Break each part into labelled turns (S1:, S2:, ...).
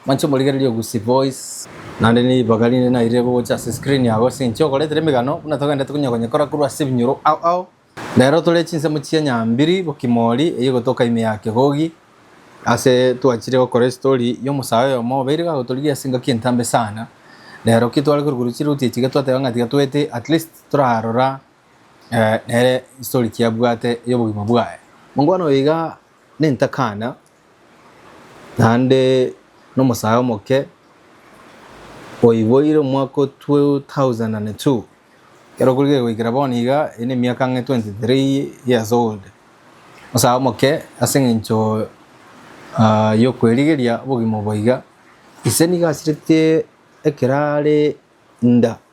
S1: Manche omorigererie ogusie voice. Naende ribaga rinde nairire gocha ase screen yago ase eng'encho ogoretera emegano buna togendete konya konyekora korwa ase ebinyoro ao ao. Rero tore chinsemo chia nyambiri bokimori eyio gotoka ime ya kegogi ase twachire gokora estory y'omosae oyomo obeire gagotorigia ase engaki entambe sana. Rero ki tware korwa korwa chiruti echi iga twateba ng'a tiga toete at least torarora nere history ki abwate ey'obogima bwaye. Mongwana oyo iga nentakana Naende nomosae omoke oiboire omwaka o 2002, ekero korige goikera bono iga, ere nemiaka ang'e 23 years old, omosae omoke ase eng'encho yokwerigeria obogima obo iga, ise nigo asirete ekero are nda.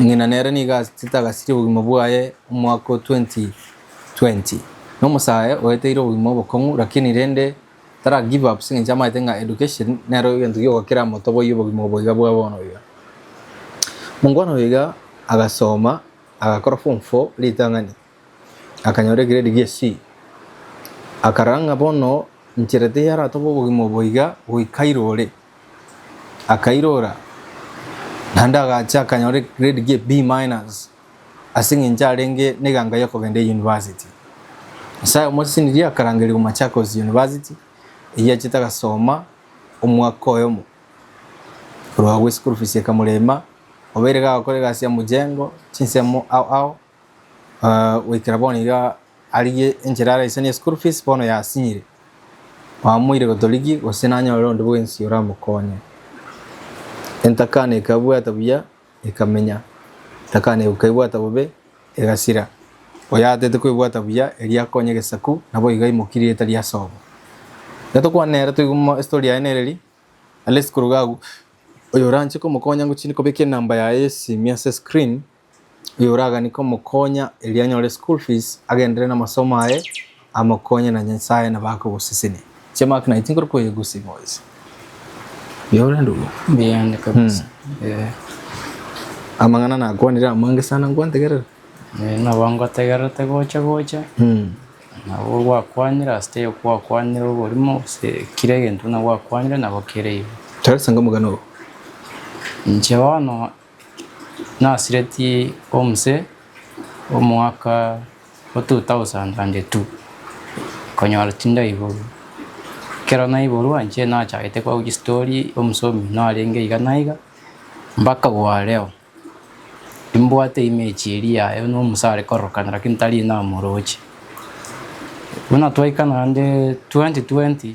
S1: Ng'ina nere nigo asete agasiria obogima bwaye omwaka o 2020. Nomosae oeteire obogima obokong'u lakini rende tara give up as'engencho amaete ng'a education nero egento giogokera motoboyie obogima obo iga bwa bono iga. Mongwana oyo iga agasoma agakora form four ritang'ani Akanyora egiredi gie C. Akarora ng'a bono nchera teyaratoba obogima obo iga goika airore. Akairora naende agacha akanyora egiredi gie B minus ase eng'encho arenge neganga yokogenda eyunivasiti. Nyasaye omosesenirie akarangerigwa Machakos University eyio achete agasoma omwaka oyomo. Korwa agwo eschool fees ekamorema, obeire iga agakora egasi ya mojengo, chinsemo ao ao. Goikera bono iga arigie enchera araisanie eschool fees bono yasinyire. Bamoire gotorigia gose nanyore onde bwensi oramokonye. Entakana ekabwata buya ekamenya, entakana ekaibwata bobe egasira. Oyatete koebwata buya eria akonye egesaku nabo iga aimokirie etari ase obo. Iga tokwane nere toigwe mo estory yaye nere eri, are eschool iga agwo oyoranche komokonya ngochi kobeka enamba yaye y'esimi ase screen. oyoraganike omokonya erio anyore school fees agenderere namasomo aye amokonye na nyasaye nabo akogosesenia inche mark naye tinkori koyegusia boys Yora ndugu Mbiande kabisa.
S2: Eh,
S1: amang'ana nakwanire amange sana nkwantegerera eh, nabo
S2: ngotegerete gocha gocha. Nabo gwakwanire ase taiyo gwakwanire oborimo gose kira egento buna gwakwanire nabo kere igo. Taresa ngomogano oo Inche bono Nasiretie omse omwaka o 2002, konyora tindaiborwa, ekero naiborwa inche nachagete kogwa chistory omosomi narenge iga na iga, mpaka bwareo imbwate image eria yaye buna omse are kororokana lakini tari namoroche. Buna twaikana naende 2020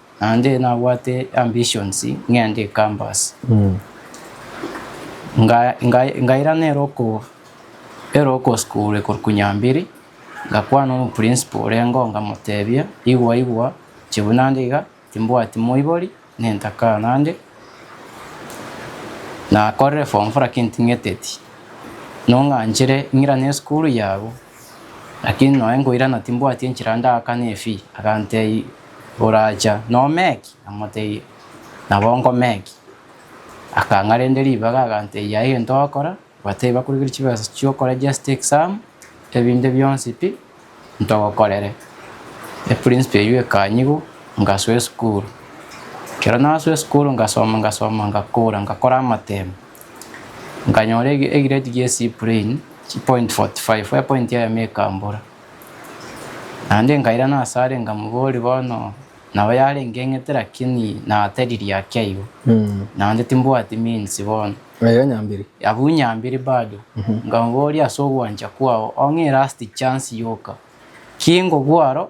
S2: Naende nabwate ambitions ng'ende ecampus. Nga nga ngairana ere oko ere oko school ekorokwa Nyambiri, ngakwana omoprinciple orengo ngamotebia igwa igwa inche buna nde iga timbwati moibori ne ntaka nande nakorire form four lakini ting'eteti nong'anchire ng'irane esukuru yago. Lakini noe nkoirana timbwati enchera ndaakane efi. Agantei, Oracha nomeki? Namotebia, Nabo nkomeki. Akang'a rende ribaga agantebia, Yaya egento ogokora, bwata eyi bakorigereria chibesa chi'okorejesta exam, ebinde bionsi pi, ntogokorere. Eprinciple eyio ekanyigwa, ngasoa esukuru. Ekero nasoa esukuru ngasoma ngasoma ngakora ngakora amatemo. Nkanyora egireti gie Cyprian, chipoint forty five, epoint yaye ime ekambora. Naende nkairana ase are nkamoboria bono nabo yarenge eng'ete lakini nateririe ake aiga. Naende timbwati means bono. Aiga nyambiri.
S1: Abwo nyambiri
S2: bado. Nkamoboria ase ogwancha kwao ong'e last chance yoka. Ki nkogwa aro?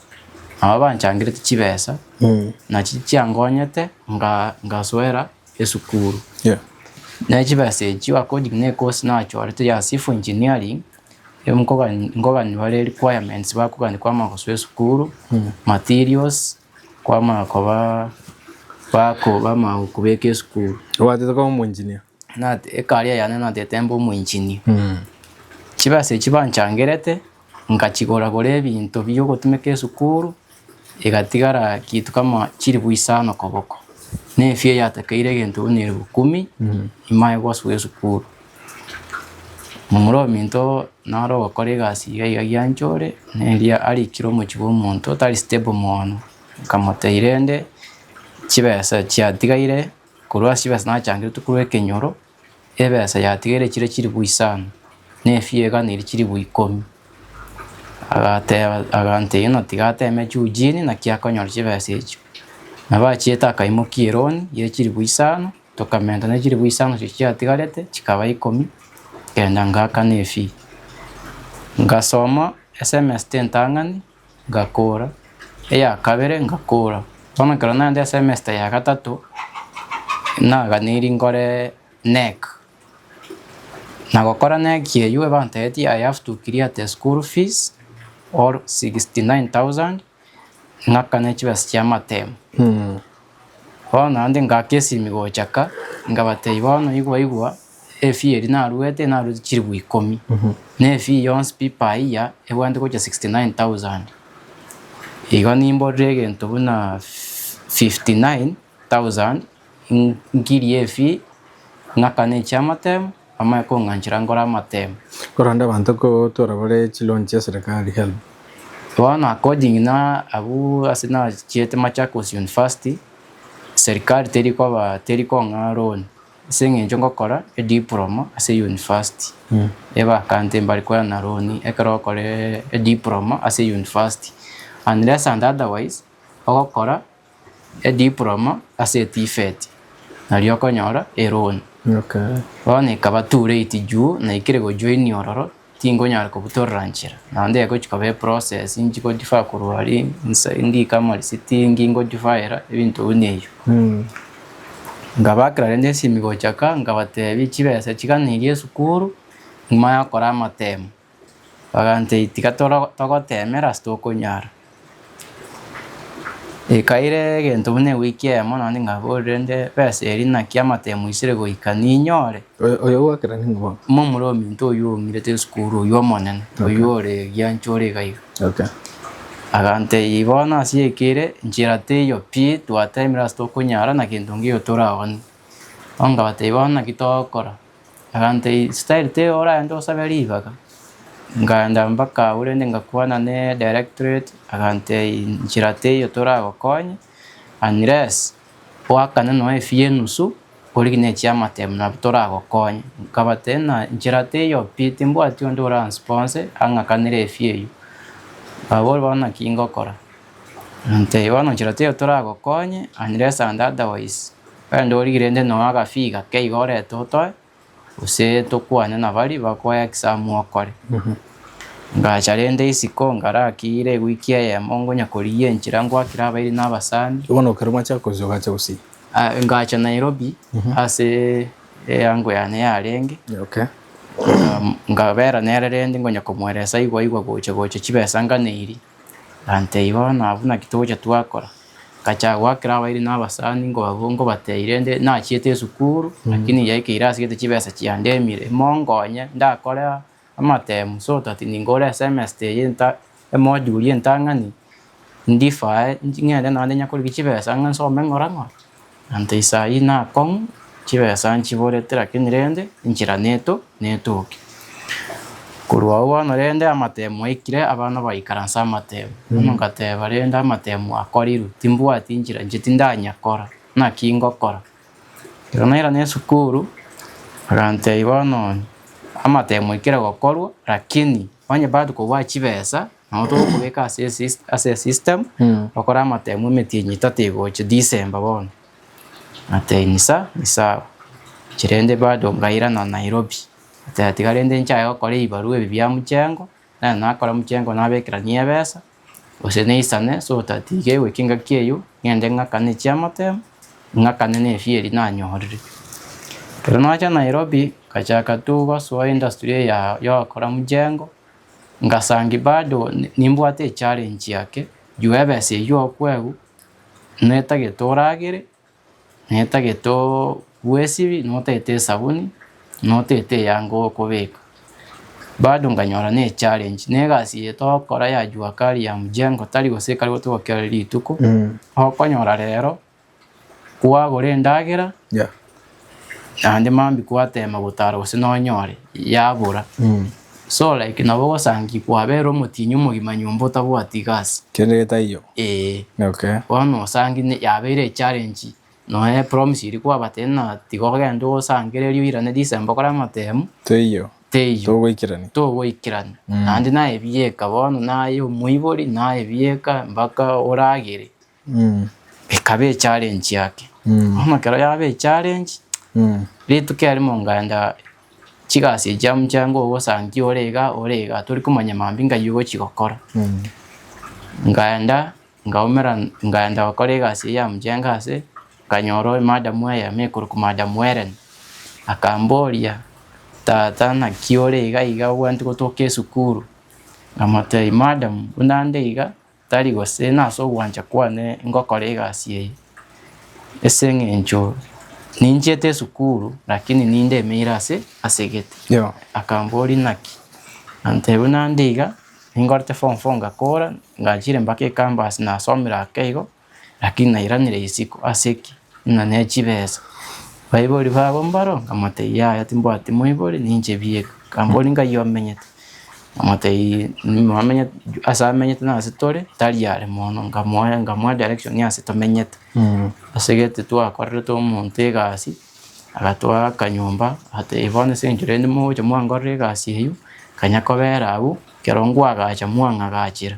S2: Nabo banchangerete chibesa, na chi chiangonyete nga- ngasoera esukuru. Yeah. Ne chibesa echio according ne course nachorete ya civil engineering, e nkogani- nkogani bare requirements bakogani kwama gosoa esukuru, materials, kwama koba bako bamao kobeka esukuru. Obwatete koba omoengineer.
S1: Nat- ecareer
S2: yane natete mbe omoengineer. Chibesa echio banchangerete, Nkachigora-gora ebinto bi'ogotumeka esukuru, egatigara kintu kama chilifu isano koboko, na efee yatakeire egento buna elifu kumi imaye gosuga esukuru. Momura ominto nare ogokora egasi iga iga giancha ore, na erio arikire omochie bw'omonto otari stable mono, nkamotebia rende chibesa chiatigaire korwa ase chibesa nachangire tokorwa ekenyoro, Ebesa yatigaire chire chilifu isano, na efia eganiri chilifu ikomi. Agateba, agantegia ng'a tigateme Eugene naki akonyora chibesa echio. Nabo achiete akaimokia eroni ye chilifu isano, tokamenta ne chilifu isano echi chiatigarete chikaba ikomi, kenda ngaakana efee. Ngasoma esemester entang'ani. Ngakora, eya kabere ngakora, bono ekero naende esemesta ya gatato, naganiri nkore neck, na gokora neck eywo ebantebetie I have to clear the school fees or sixty nine thousand ng'akane chibesa chia matemu, bono naende ngaka esimi gocha ka, nkabatebia bono igwa igwa. Efee eria naruete naruete chiribu ikomi na efee yonsi pi per year ebwate gocha 69,000 igo nimborire egento buna 59,000 nkirie efee ng'akane echiamatemu amanye kong'anchera nkore amatemu. Korende abanto
S1: kotwora bare chiloan chia serikali, helb. Bono
S2: according na abwo ase nachiete Machakos University, serikali teri koba teri kong'aa loan. Ase engencho ngokora ediploma ase yunifasti, e bakante mbari koya na roni ekero ogokora ediploma ase yunifasti unless and otherwise ogokora ediploma ase TVET nario okonyora eroni. Bono ekaba too late juu naikire gojoinia ororo Tinkonyara kobutorora nchera, na onde egochi koba eprocess nchigodifaa korwa aria inse ngika moriciti ngi ngodifaera ebinto ebi na ebi. Nkabakera rende esimi gocha ka nkabatebia chibesa chiga niga esukuru nyuma yokora amatemo. Bagantebia tiga togotemera ase tokonyara. Ekaire egento buna ewiki eyemo naende ngaborire nde, Besa eria naki amatemu isire goika ninyore? Oyo ogwakera nigo
S1: bono. Momura ominto oyio
S2: oumire te esukuru oyio omonene, oyio ore egiancha ore iga iga. Okay. Agantebia bono ase eke ere nchera teiyo pi, twatemire ase tokonyara na gento ngiyo toraoni. Bono ngabatebia bono naki togokora. Egante eye style te oraende osabe ribaga ngaenda mpaka agwo rende ngakwana ne directorate agante nchera teiyo toragokonye unless oakane nonya efi ya enusu origi ne chiamate muna abwo toragokonye nkabate na nchera teiyo pi timbwati onde oransiponse ang'akanere efi eyio. Abwo bono naki ngokora. Teiba nochira teiyo toragokonye, unless and otherwise. Rende origire nde noe agafiga keiga orete otoe, gose tokwane na bari bakoe exam okore. Ngacha rende isiko ngarakire ewiki eyemo ngonya korigia enchira ngwakire abairi na abasani. Igo nokero mwachaka
S1: gochia ogacha gosii? Ah, ngacha
S2: Nairobi ase eango yane yarenge, Okay. um, ngabera nere rende ngonya komoeresa igwa igwa gocha gocha chibesa nganeirie. Gantei bono abwo naki togocha twakora, ngacha goakera abairi na abasani nkobaboria nkobatebia rende nachiete esukuru lakini yaikeire ase egento chibesa chiandemire monkonye ndakore amatemu so that ningore esemester eye nta emoduli entang'ani ndifae ng'ende naende nyakore chibesa ng'a nsome ng'ora ng'ora. Ante inse ayio nakong'u, chibesa nchiborete, lakini rende enchera neto netoke. Korwa agwo bono rende amatemu aikire, abana baikaransa amatemu. Bono ngateba, rende amatemu akorirwe, timbwati enchera inche tindanya kora, naki ngokora? Ekero nairana esukuru, bagantebia bono amatemu aikire gokorwa, lakini onye bado kobua chibesa, Nabo togokobeka ase esystem bakore amatemo emetienyi etato egocha December bono ate insa insa inche rende bado ngairana Nairobi ate tiga rende inchaye gokora ebibarua ebi bia mchengo nero nakora mchengo nabekerania ebesa gose naisane so that iga eweki engaki eyio ngende ng'akane chiamatemo ng'akane ne efee eria nanyorire. Ekero nacha Nairobi ngachaka tu gosoa industry eya yogokora mchengo. Ngasangi bado nimbwate echallenge yake juu ebesa eyio okwegwa netagete oragere netagete obue esiri notete esabuni notete eyanga okobeka bado nkanyora ne challenge ne egasi eye togokora ya jua kali ya mjengo tari gose ekare gotogokia rituko okonyora rero. Kwagora endagera Yeah. naende mambi kwatema gotara gose nonyore yabora. So like nabo ogosangi kwabera omotinyu omogima nyomba otabwati gasi. Kende getaiyo.
S1: Eeh. Okay. Bono osangi
S2: ne- yabeire echallenge nonya promise eria kwabatebia ng'a tiga ogende osangererie oirane December okore amatemu, Teiyo. teiyo.
S1: Togoikerani. Togoikerani.
S2: Naende naye ebieka bono naye omoibori naye ebieka mpaka oragere. Ekaba echallenge yake bono ekero yaba echallenge rituko erimo nkaenda chigasi echi amo chiange ogosantia ore iga ore iga tori komanya mambia nkaiyia ogochi gokora. Nkaenda nkaumera nkaenda gokora egasi eye ya mchanga ase nkanyora madam eyemo ekorokwa madam Hellen akamboria tata naki ore iga iga obwanti gotoka esukuru? Nkamotebia madam buna nde iga Tari gose nase ogwancha kwane ngokora egasi eye, ase eng'encho ninchiete esukuru, lakini ninde emeire ase ase egete. Yo. Akambori naki? Nantebia buna nde iga, ningorete form four ngakora, ngachire mpaka ecampus nasomire ake igo, lakini nairanire isiko, ase ki? ng'a ne chibesa. Baibori babo mbaro? Nkamotebia, Yaya, timbwati moibori, ninche bieka. Nkambori, Nkai omenyete? Nkamotebia, Ase amenyete na ase tore, tari are mono. Nkamoa nkamoa direction ya ase tomenyete. Ase gete twakorerete omonto egasi, agatoa akanyomba, agatebia bono ase eng'encho rende mogocha mwankorera egasi eyio, kanya kobera abwo, ekero nkwagacha mwang'agachera.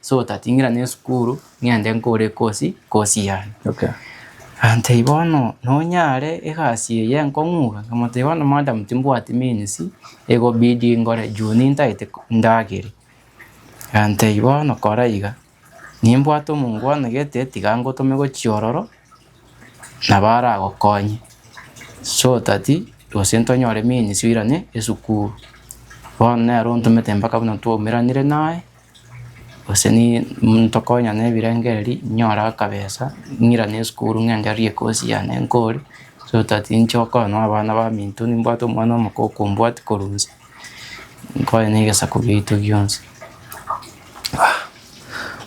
S2: so otating'ira ne esukuru ng'ende nkore ekosi kosi yane. Okay.
S1: Antei
S2: bono nonyare egasi eye nkong'uga nkamotebia bono madam timbwati means egobidi ngore juu nintaete ndagere antei bono kora iga nimbwate omongo anegete tiga ngotome gochia ororo nabo aragokonye so that gose ntonyore means oirane esukuru bono nero ontomete mpaka buna twaumeranire naye. gose ntokonya nebirengererio inyore akabesa ng'irane esukuru ng'endererie ekosi yane nkore so that ninche okonya na abana baminto nimbwate omwana omoko okombwati korwa inse, nkonye na egesaku giaito gionsi.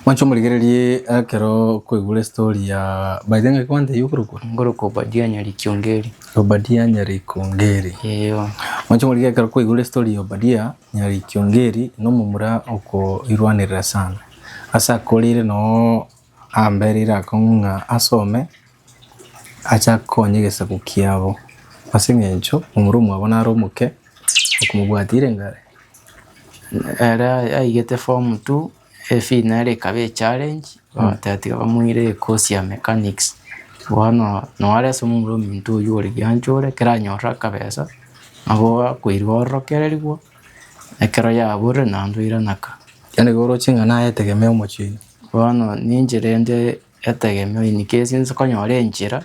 S1: Mwancha omorigererie ekero okoigure estory ya, by the way ngaki kwantebia okorokwa? Nkorokwa Obadia Nyari
S2: Kiongeri. Obadia Nyari
S1: Kiongeri. Eeh.
S2: Mwancha omorigererie ekero
S1: okoigure estory ya Obadia Nyari kiongeri nomomura okoirwanerera sana. Ase ako rire noo ambe rire akong'u ng'a asome ache akonye egesaku kiabo. Ase eng'encho omura omwabo nare omoke okomobwatire ng'a ere
S2: yaigete form two. Efi nere ekaba echallenge bagateba bamoire course ya mechanics bono noware ase omomura ominto oywo ore giancha ore ekero anyorire akabesa nabo akoirwa ororokererigwa ekero yaborire naende oiranaka. Yaani igoro ching'ana
S1: etegemea omochie. Bono ninche
S2: rende. Etegemeo ini kesi inse konyora enchera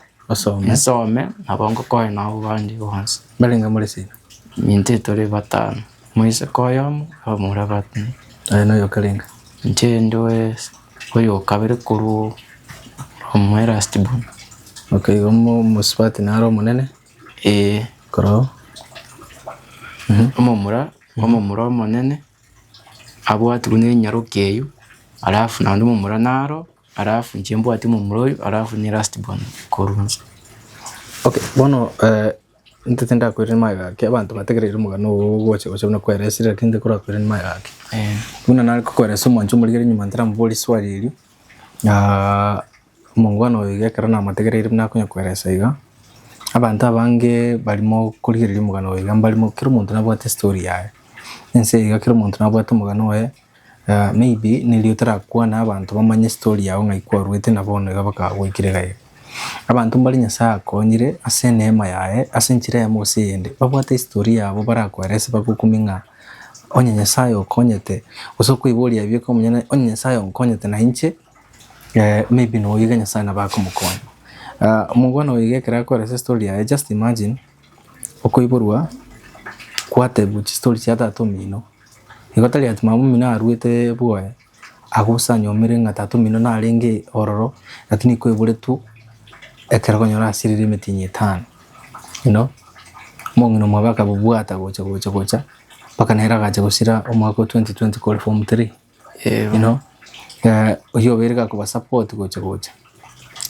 S2: nsome nabo ngokoe nabo bande bonsi. Mbarenge more sinyo?
S1: Intwe tore
S2: batano, omoiseke oyomo, abamura bane. Aye noyokarenge?
S1: Inche ndoe
S2: oyokabere korwa omo erasti born. Ok, igo
S1: omosubati naro omonene? Ee. Koroo?
S2: Omomura, omomura omonene. abwate buna enyaroke eyio, alafu naende omomura naro, alafu inche mbwate omomura oyio, alafu niye last born korwa inche. Okay,
S1: bono intwe tindakoirania maega gaki, abanto bategereire omogano ogo ogocha gocha buna kweresire lakini intwe korakoirania maega gaki. Buna nare kokoeresa omwancha omorigeri nyuma ntaramoboria eswali erio, Omongwana oyo iga ekero namategereire buna akonya koeresa iga, abanto abange bari mokorigereria omogano oye iga mbari kera omonto nabwate estory yaye. Ense eye iga kera omonto nabwate omogano oye, maybe neri otarakwane abanto bamanye estory yago ng'ai kwarwete na bono iga bakagoikera iga iga. Abanto mbari Nyasae akonyire ase eneema yaye ase enchera eyemo gose eyende, babwate estory yabo barakoerese bagokumie ng'a onye Nyasae okonyete gose okoiboria ebieka omonyene onye Nyasae onkonyete na inche. maybe noyo iga nyasaye nabo akomokonya. Omogweno oyo iga ekero akore ase story yaye just imagine okoiborwa gwatebiwa chistory chia tata omino, igo tari ati mama omino arwete bwoye agose anyomire ng'a tata omino narenge ororo lakini koiboretwe ekero okonyora asirire emitinyi etano you know, omong'ina omwabo akabobwata gocha gocha gocha mpaka nere agacha gosira omwaka o twenty twenty kore form three. you know eh, oyio obeire gakoba support gocha gocha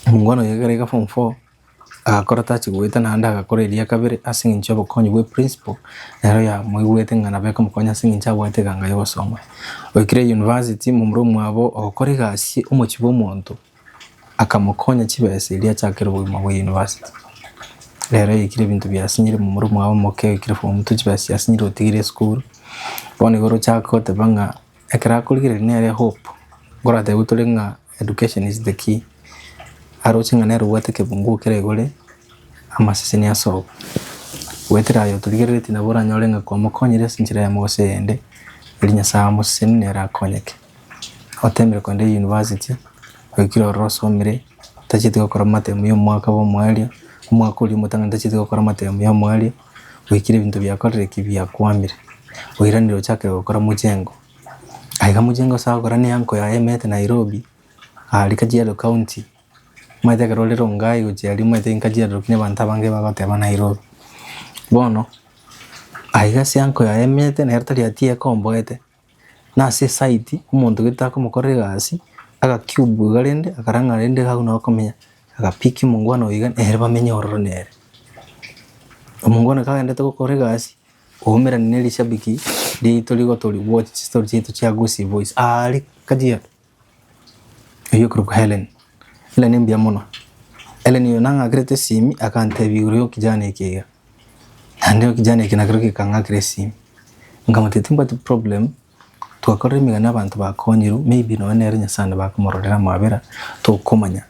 S1: omongwana oyo egere iga form four agakora tachi goeta naende agakora eria kabere ase eng'encho y'obokonyi bwe principal nero yamoigwete ng'a nabo ekomokonya ase eng'encho abwate eganga yogosoma. Oikire university momura omwabo ogokora egasi omochie bwa omonto. Akamokonya chibesa erio achakere obogima bwa university. Rero oikire ebinto biasinyire momura omwabo omoke oikire form two chibesa chiasinyire otigire esukuru. Bono igo orochake goteba ng'a ekero akorigereria nere ehope. Nkorateba gwe tore ng'a education is the key. Aroche ng'a nere obwate ekebungo okere igore amaseseni asoe. Goetera aye otorigereretie nabo oranyore ng'a kwamokonyire ase enchera eyemo gose eyende. Eri Nyasae amoseseni nere akonyeke. Otemire kogenda eyunivasiti, oikire ororo osomire, otacheti gokora amatemo ya omwaka bwa omoerio, omwaka oria omotang'ani otacheti gokora amatemo ya omoerio, oikire ebinto biakorire ki? biakwamire, oiranire ochakire gokora mochengo. Aye iga mochengo ase agokora na eanko yaye emete Nairobi, aria Kajiado County, omanyete ekero ore Rongai gochia aria omanyete nka Kajiado lakini abanto abange bagoteba Nairobi. Bono, aye iga ase eanko yaye emete nere tari atiye ekomboete, nase esayidi omonto gete akomokorera egasi, agakiubu iga rende akarang'ana rende iga buna akomenya, agapiki omongwana oyo iga nere bamenye ororo nere. Omongwana kagenderete gokora egasi, oumera nerishabiki riaito rigotoria gochi chistori chiaito chia Gusii Boyz aare kajiado. Oyio okorokwa Helen. Helen mbuya mono. Helen oyo nang'akerete esimi akantebi igoro yo kijana eke iga. Naende ekijana eke nakero gekang'akera esimi. Nkamotebia timbwati problem, twakorire emegani abanto bakonyiru, maybe nonye nere Nyasaye nabo akomororera amabera, tokomanya.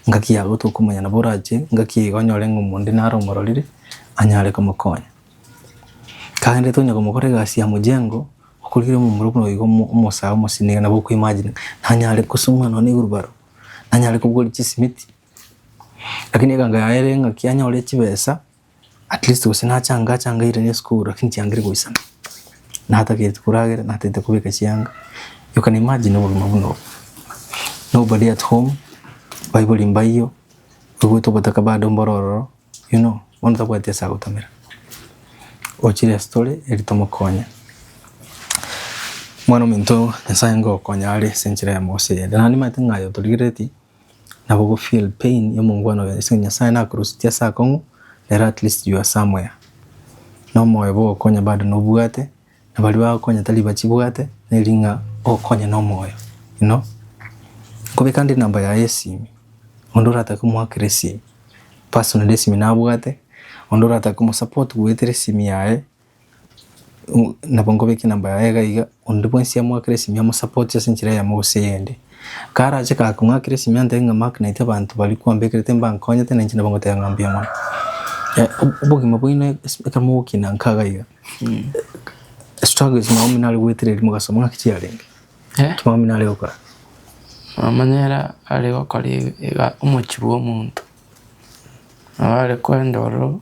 S1: Ngaki yabo tokomanya nabo orache ngaki iga onyore ng'a omonto onde naro omororire anyare komokonya. Kagenderete onye komokora egasi ya mojengo. Okorikire momura buna oigo omosae omosinige nabo okoimagine ng'a nanyare kosong'wa nonya newheelbarrow, nanyare kogora chisimiti. Lakini eganga yaye ere ng'a ki anyore chibesa at least gose nachange achange airanie esukuru lakini chiangire goisana. Natagete koragera, natagete kobeka chianga. You can imagine obogima buna obo. Nobody at home, baibori mbaiyo, toigwete obotaka bado mboro ororo. You know, bono tabwati ase agotomera. Ochire ase tore eri tomokonye. Mwana ominto Nyasaye ngokonya are ase enchera ya mogosio yere. Naende nimanyete ng'a aye otorigereti nabo go feel pain ya omongwana oye. Ase Nyasaye nakorositie ase akong'u, nere at least you are somewhere. Nomoyo bwogokonya bado nobwate. Na baria bagokonya tari bachibwate, neri ng'a okonya nomoyo. Inwe nkobeka nde enamba yaye y'esimi, onde oratake komoakera esimi personally esimi nabwate, onde oratake komosupport goetera esimi yaye, nabo nkobeka enamba yaye iga iga, onde bwensi amoakere esimi amosupport ase enchera eyemo gose eyende. Karache kare kong'akera esimi antebie ng'a mark naitwe abanto baria kwambekerete mbankonyete na inche nabo ngoteba ng'a mbuya mono. Obogima bwaino ekero mogokina nka iga iga. Struggle ase maomi nare gwetereri mogaso muna ki chiarenge. Eh? Maomi nare gokora. Mamanyera
S2: are gokora iga omochi bwa omonto. Nabo are kwenda ororo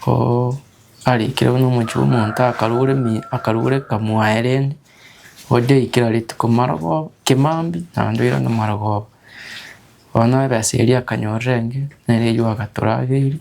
S2: oo arikire buna omochi bwa omonto akarure mi akarure kamwaye rende oria aikire rituko marogoba kimambi naende oirane marogoba. Bono ebesa eria akanyorera enge nere eywo agatura abeiri.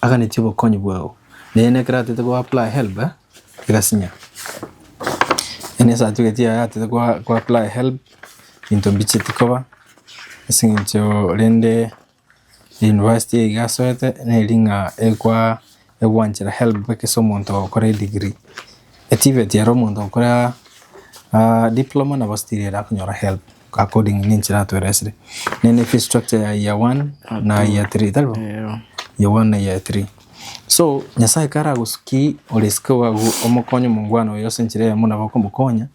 S1: Aganetie obokonyi bwao. Neye nekero atete ko apply helb egasinya. Yaani esatifiketi yaye atete ko apply helb into mbicheti koba ase eng'encho rende university eye iga asoete neri ng'a egwanchera helb boke ase omonto ogokora edigiri. Etivet ere omonto ogokora diploma nabo still ere akonyora helb. According ne enchera atweresire. Nene fee structure ya year one na year three tari bo? Eyo. Year one na year three. So Nyasaye kare agosuki oresike ogagu omokonye omongwana oyo ase enchera eyemo nabo okomokonya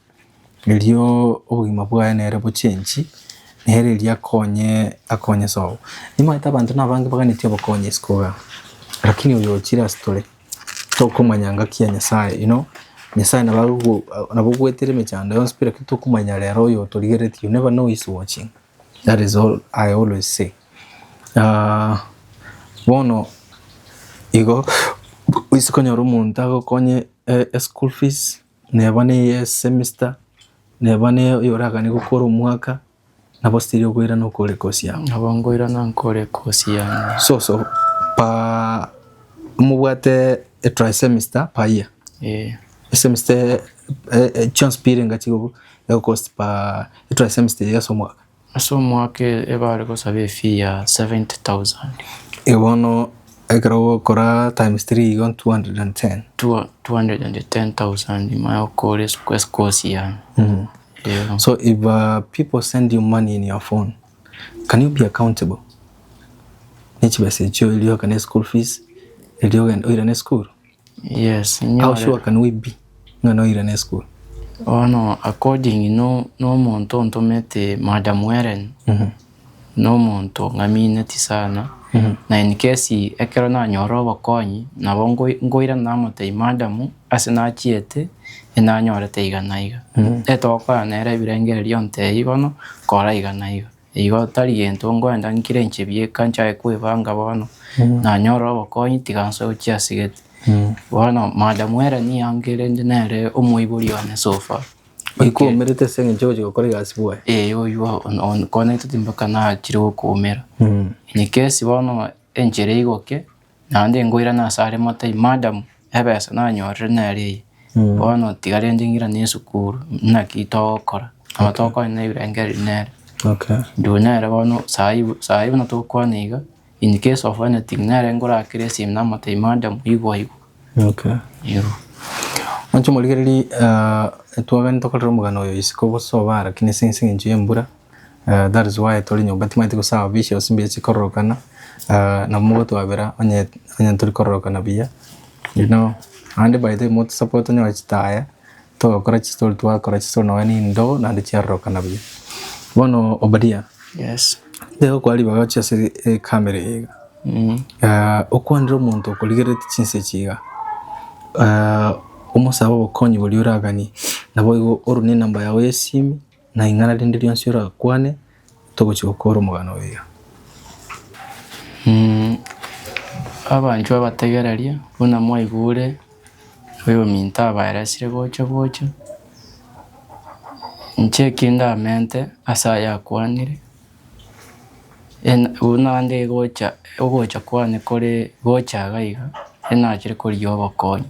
S1: erio obogima bwaye nere bo change nere erio akonye akonye sobo. Nimaete abanto nabange baganeti obokonyi isiko iga. Lakini oyo ochire ase tore. tokomanya ngaki ya Nyasaye ino, Nyasaye nabo agogo nabo ogwetire emechando yonsi pero ekio tokomanya rero oyo otorigeretie you never know who is watching that is all I always say bono igo, gose konyora omonto agokonye eschool fees. Neba neye semester, neba ne oy'oragane gokora omwaka, nabo still okoirana okore kosi yao. Nabo nkoirana nkore
S2: kosi yane. So so pa
S1: mobwate a tri semester pa year. Eh, Semester eh, eh, chionsi pirenga chigogo egokosti pa tri semester yase omwaka. Ase omwaka ebare gosaba
S2: efee ya 70,000. Ee bono
S1: ekero ogokora times three igo 210. 210,000
S2: ime okore eskosi yane. Eeh.
S1: So if uh, people send you money in your phone, can you be accountable? Nechibesa echio erio ogakane school fees, erio ogende oirane school. Yes, How
S2: nyorere. sure can
S1: we be ng'a noirana esukuru? Bono
S2: according no nomonto ontomete Madam Hellen nomonto ng'amineti sana na in case ekero nanyora obokonyi nabo ngoi- ngoirana namotebia madam ase nachiete enanyorete iga na iga etogokorana nere ebirengererio ntebie bono kora iga na iga. Igo tari gento ngwenda nkire inche bieka nchake kwebanga bono nanyore obokonyi tiga nsoe gochia ase gate. Bono madam ere niye ankerente nere omoibori one so far. Oikomerete
S1: ase eng'encho ogochia gokora egasi bwoye. Ee oywo
S2: onkonyete mpaka nachire gokoomera. Inye kesi bono enchera eigoke Naende ngoirana ase are motebie, Madam, ebesa nanyorire nere eye, bono tigarenche ng'irane esukuru, naki togokora? Nabo tokwana na ebirengererio nere. Okay. Nduu
S1: nere bono
S2: saii saii buna tokwana iga, in case of anything, nere ngorakere esimi namotebia, Madam, igwa igwa. Okay.
S1: Eeh.
S2: Monche
S1: morigererie ah, twabande tokorera omogano oyo isiko boso obara, kina ase ense engencho y'embura. That is why tori nyomba timanyete gosaba bishops mbiya chikororokana nabo mogotwabera onye onye tori kororokana buya you know naende by the way motosapote onyore chitaya togokora chistori twakora chistori nonya nindogo naende chiarorokana buya. Bono Obadia Yes.
S2: nigo okwana ribaga
S1: oche ase ecamera eye iga okwanere omonto okorigereti chinsa echi iga omosabe obokonyi boria oraganie naboigo orwe nenamba yago yesimi. Na ing'ana rinde rionsi orakwane, togochia gokoora omogano oiga.
S2: Abanchwa abategereria, buna mwaigure oyominto abaeresire gocha gocha, inche eki ndamente ase ayakwanire, buna nde gocha, ogocha kwane kore gocha iga iga, inachire korigia obokonyi.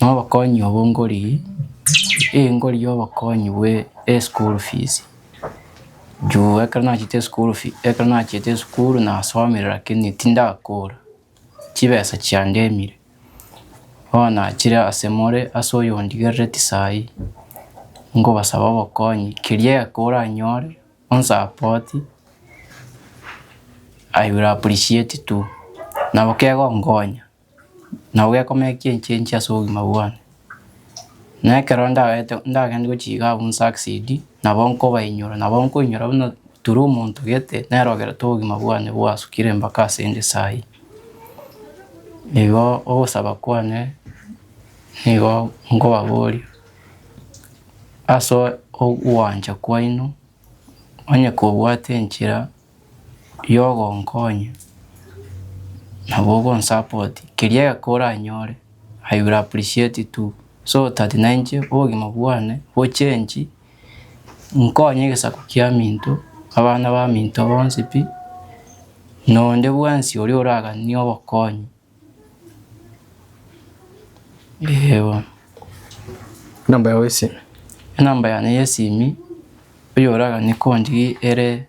S2: Nobokonyi obo ngorigie, eh ngorigie obokonyi bwe eschool fees, juu ekero nachete eschool fee ekero nachete esukuru nasomire lakini tindakora, chibesa chiandemire, bono nachire ase more ase oyondigerereti sayi, ngobasaba obokonyi keria egeka oranyore onsapoti I will appreciate too, nabo kegonkonya. na ogekomekia enchie enchie ase obogima bwane. Na ekero ndagete ndagende gochiga abwo nsucceed, nabo nkobainyora, nabo nkoinyora buna through omonto gete nere ogerete obogima bwane bwasukire mpaka asende sahi. Igo ogosaba kwane nigo nkobaboria, ase ogwancha kwaino, onye kobwate enchera. y'ogonkonya na bogonsupport keria egeka oranyore I will appreciate it too so that na inche obogima bwane bo change nkonye egesaku kia minto, abana ba minto bonsi pi na onde bwensi oria oraganie obokonyi. Eeh bono.
S1: Enamba yao y'esimi. Enamba yane
S2: y'esimi oyoraganie konchie ere.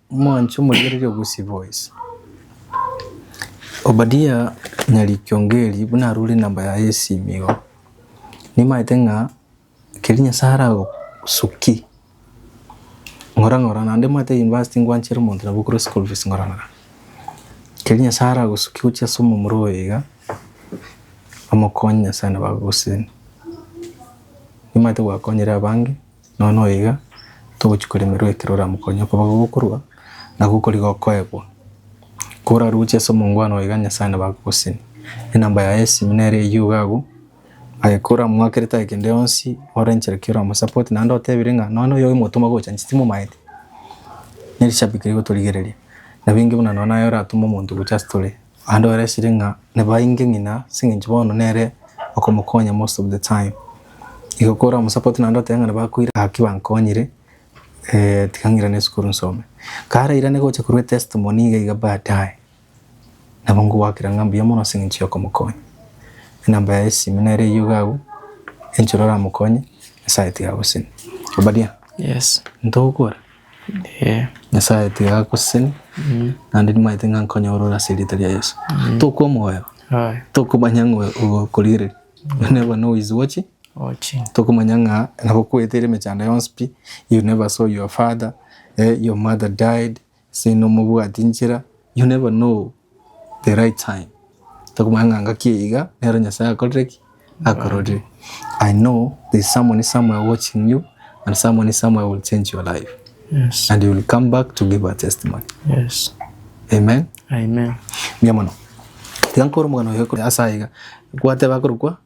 S1: Mwanche omorigereria o Gusii Boys. Obadia Nyari Kiongeri buna arure number yaye esimu igo, nimaete ng'a keria Nyasae aragosukie ng'ora ng'ora naende omanyete university ngwanchere omonto nabo okore school fees ng'ora ng'ora. Keria Nyasae aragosukie gochia ase omomura oye iga, omokonye Nyasae nabo agogoseni. Nimaete gwakonyire abange. Nono iga togochia koremerwa ekero oramokonye okoba gokorua na gokoriga okoegwa. Koraruche ase omongwana oyo iga Nyasae nabo agogoseni. Enamba yaye y'esimi nere eyio iga agwo, aye koramoake ritari kende yonsi ore enchera ki oramosupport naende otebire ng'a nonya noyo ogimotoma gocha inche timomaete. Nerishabiki rigotorigereria, nabo inki buna nonya naye oratome omonto gocha ase tore. Naende oresirie ng'a nibainge ng'ina as'engencho bono nere okomokonya most of the time. Igo kore omosupport naende otebe ng'a nibakoira gaki bankonyire tiga ng'irane esukuru nsome. Kare airane gocha korwa etestimony iga iga baadaye, nabo ngoakera ng'a mbuya mono as'engencho yokomokonya. Enamba yaye y'esime nere eyio iga agwo, enchera oramokonye, Nyasaye tiga agosenie. Obadia? Yes.
S2: Intogokora?
S1: Ee. Nyasae tiga agoseseni naende nimaete ng'a nkonyora ore ase erieta ria Yeso. Tokomoeba, Aye. tokomanya ng'a ogokorigereria, you never know his watching, Ochi. tokomanya ng'a nabo okweteire emechando yonsi pi, you never saw your father, eh, your mother died, seinomobwati nchera, you never know. the right time tokomanya ng'a ngaki eye iga nero nyasaye akorire ki akororire i know there is someone somewhere watching you and someone somewhere will change your life Yes. and you will
S2: come back
S1: to give a testimony Yes.
S2: amen
S1: Amen.
S2: mia mono
S1: tiga nkore omogano oyo kore ase aiga gwateba korokwa